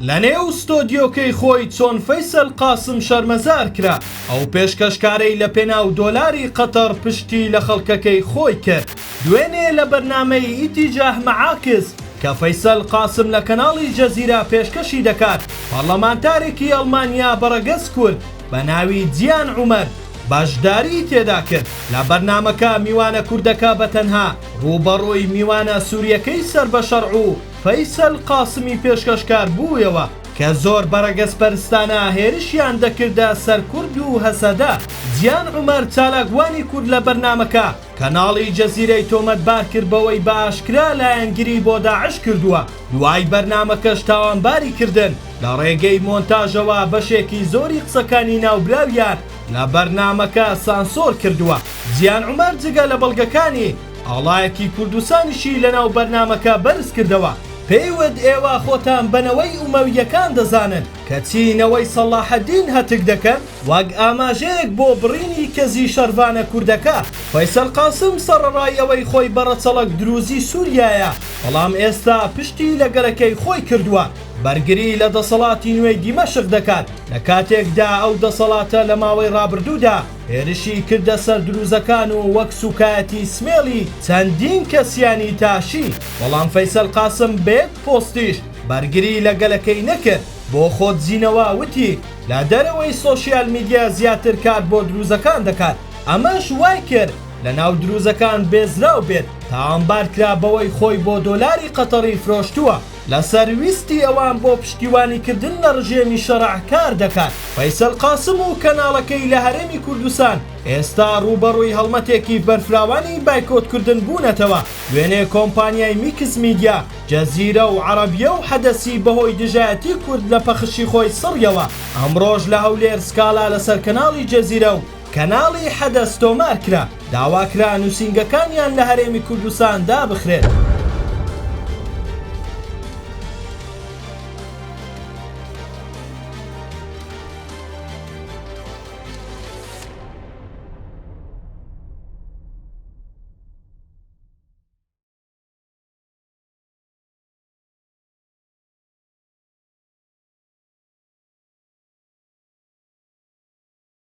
لە نێو ستۆدیۆکەی خۆی چۆن فەیسەل قاسم شەرمەزار کرا، ئەو پێشکەشکارەی لە پێناو دۆلاری قەتەڕ پشتی لە خەڵکەکەی خۆی کرد. دوێنێ لە بەرنامەی ئیتیجاه مەعاکس کە فەیسەل قاسم لە کەناڵی جەزیرە پێشکەشی دەکات، پەڕڵەمانتارێکی ئەڵمانیا بە ڕەگەز کورد بە ناوی جیان عومەر بەشداریی تێدا کرد. لە بەرنامەکە میوانە کوردەکە بە تەنها ڕووبەڕووی میوانە سوورییەکەی سەر بە شەڕ و، فەیسەل قاسمی پێشکەشکار بوویەوە کە زۆر بەڕەگەزپەرستانە هێرشیان دەکردە سەر کورد و هەسەدە، جیان عومەر چالاکوانی کورد لە بەرنامەکە کەناڵی جەزیرەی تۆمەتبار کرد بەوەی بە ئاشکرا لایەنگری بۆ داعش کردووە، دوای بەرنامەکەش تاوانباری کردن، لە ڕێگەی مۆنتاژەوە بەشێکی زۆری قسەکانی ناوبراویان لە بەرنامەکە سانسۆر کردووە. جیان عومەر جگە لە بەڵگەکانی ئاڵایەکی کوردستانیشی لەناو بەرنامەکە بەرزکردەوە، پێی وت ئێوە خۆتان بە نەوەی ئومەوییەکان دەزانن، کەچی نەوەی سەڵاحەدین هەتک دەکەن وەک ئاماژەیەک بۆ بڕینی کەزی شەڕڤانە کوردەکە. فەیسەل قاسم سەڕەڕای ئەوەی خۆی بە ڕەچەڵەک دروزی سووریایە، بەڵام ئێستا پشتی لە گەلەکەی خۆی کردووە، بەرگری لە دەسەڵاتی نوێی دیمەشق دەکات، لە کاتێکدا ئەو دەسەڵاتە لە ماوەی ڕابردوودا، هێرشی کردە سەر دروزەکان و وەک سوکایەتی سمێڵی چەندین کەسیانی تاشی، بەڵام فەیسەل قاسم بە یەک پۆستیش بەرگری لە گەلەکەی نەکرد، بۆ خۆدزینەوە وتی لە دەرەوەی سۆشیال میدیا زیاتر کار بۆ دروزەکان دەکات، ئەمەش وایکرد لە ناو دروزەکان بێزراو بێت، تاوانبارکرا بەوەی خۆی بۆ دۆلاری قەتەڕی فرۆشتووە. لەسەر ویستی ئەوان بۆ پشتیوانیکردن لە ڕژێمی شەڕع کار دەکات. فەیسەل قاسم و کەناڵەکەی لە هەرێمی کوردستان ئێستا ڕووبەڕووی هەڵمەتێکی بەرفراوانی بایکۆتکردن بوونەتەوە، دوێنێ کۆمپانیای میکس میدیا، جەزیرە و عەڕەبیە و حەدەسی بەهۆی دژایەتی کورد لە پەخشی خۆی سڕیەوە، ئەمڕۆش لە هەولێر سکاڵا لەسەر کەناڵی جەزیرە و. کەناڵی حەدەس تۆمار کرا، داواکرا نووسینگەکانیان لە هەرێمی کوردستان دابخرێت.